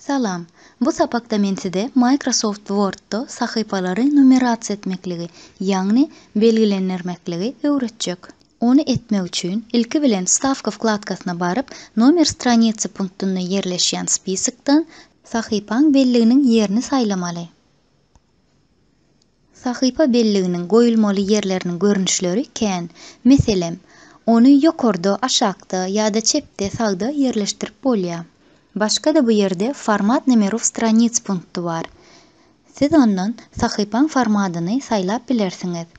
Salam. Bu sapakda men size Microsoft Word-da sahypalary numerasiýa etmekligi, ýagny belgilendirmekligi öwretjek. Ony etmek üçin, ilki bilen Wstawka wkladkasyna baryp, Nomer stranicy punktynda ýerleşýän spisokdan Sahypaň belliginiň ýerini saýlamaly. Sahypa belliginiň goýulmaly ýerleriniň görnüşleri kän. Meselem, ony ýokarda, aşakda ýa-da çepde-sagda ýerleşdirip bolýar. Başga-da bu ýerde Format nomerov stranic punkty bar. Siz ondan sahypaň formadyny saýlap bilersiňiz.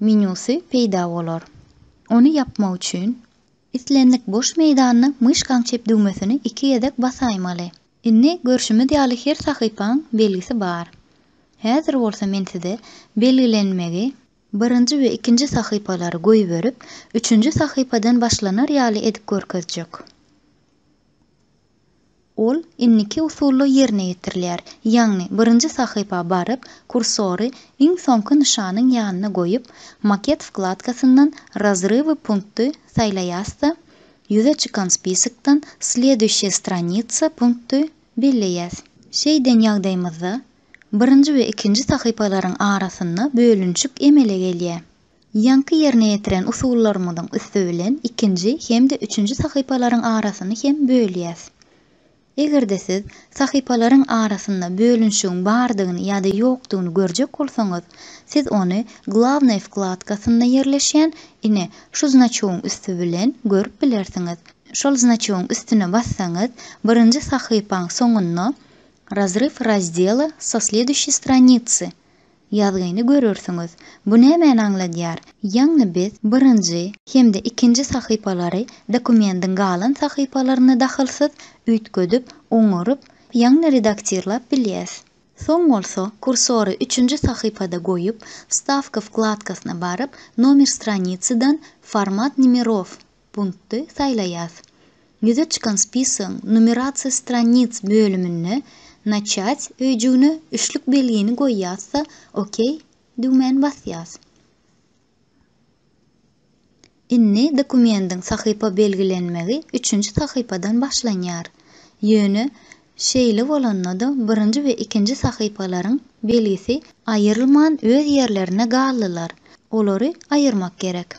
menýusy peýda bolar. Ony ýapmak üçin, islendik boş meýdanda myşkaň çep düwmesini iki gezek basaýmaly. Indi görşümiz ýaly her sahypaň belgisi bar. Häzir bolsa men size belgilenmegi, birinji we ikinji sahypalary goýberip, üçünji sahypadan başlanar ýaly edip görkezjek. Ol indiki usulda ýerine ýetirilýär, ýagny birinji sahypa baryp, kursory iň soňky nyşanyň ýanyna goýup, Maket wkladkasyndan Razrywy punkty saýlaýas-da, ýüze çykan spisokdan Sleduýşiýe stranitsa punkty belleýäs. Şeýden ýagdaýymyzda, birinji we ikinji sahypalaryň arasynda bölünişik emele gelýär. Ýaňky ýerine ýetiren usullarymyzyň üsti bilen ikinji hem-de üçünji sahypalaryň arasyny hem bölýäs. Eger-de siz sahypalaryň arasynda bölünişigiň bardygyny ýa-da ýokdugyny görjek bolsaňyz, siz ony Glawnaý wkladkasynda ýerleşýän, ine, şu znaçowyň üsti bilen görüp bilersiňiz. Şol znaçowyň üstüne bassaňyz, birinji sahypaň soňunda Razryw razdela so sleduşýy stranicy Ýazgyny görersiňiz. Bu nämäni aňladýar? Ýagny biz birinji hem-de ikinji sahypalary dokumendiň galan sahypalaryna dahylsyz üýtgedip, oňaryp, ýagny redaktirlap bilýäs. Soň bolsa kursory üçünji sahypada goýup, Wstawka wkladkasyna baryp, Nomer stranicydan Format nimerov Punkty saýlaýas. Ýüze çykan spisygyň Numerasiýa stranic bölüminde Начать öýjügine üçlük belgini goýýas-da OK düwmäni basýas. Indi dokumendiň sahypa belgilenmegi üçünji sahypadan başlanýar. Ýöne şeýle bolanda-da birinji we ikinji sahypalaryň belgisi aýrylman öz ýerlerinde galdylar. Olary aýyrmak gerek.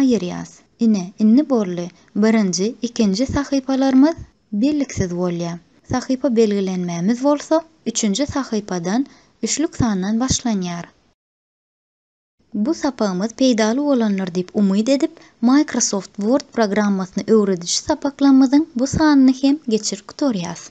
Aýyrýas. Ine, indi boldy. Birinji, ikinji sahypalarymyz belliksiz bolýar. Sahypa belgilenmämiz bolsa, üçünji sahypadan, üçlük sandan başlanýar. Bu sapagymyz peýdaly bolandyr diýip umyt edip, Microsoft Word programmasyny öwrediji sapaklarymyzyň bu sanyny hem geçirip gutarýas.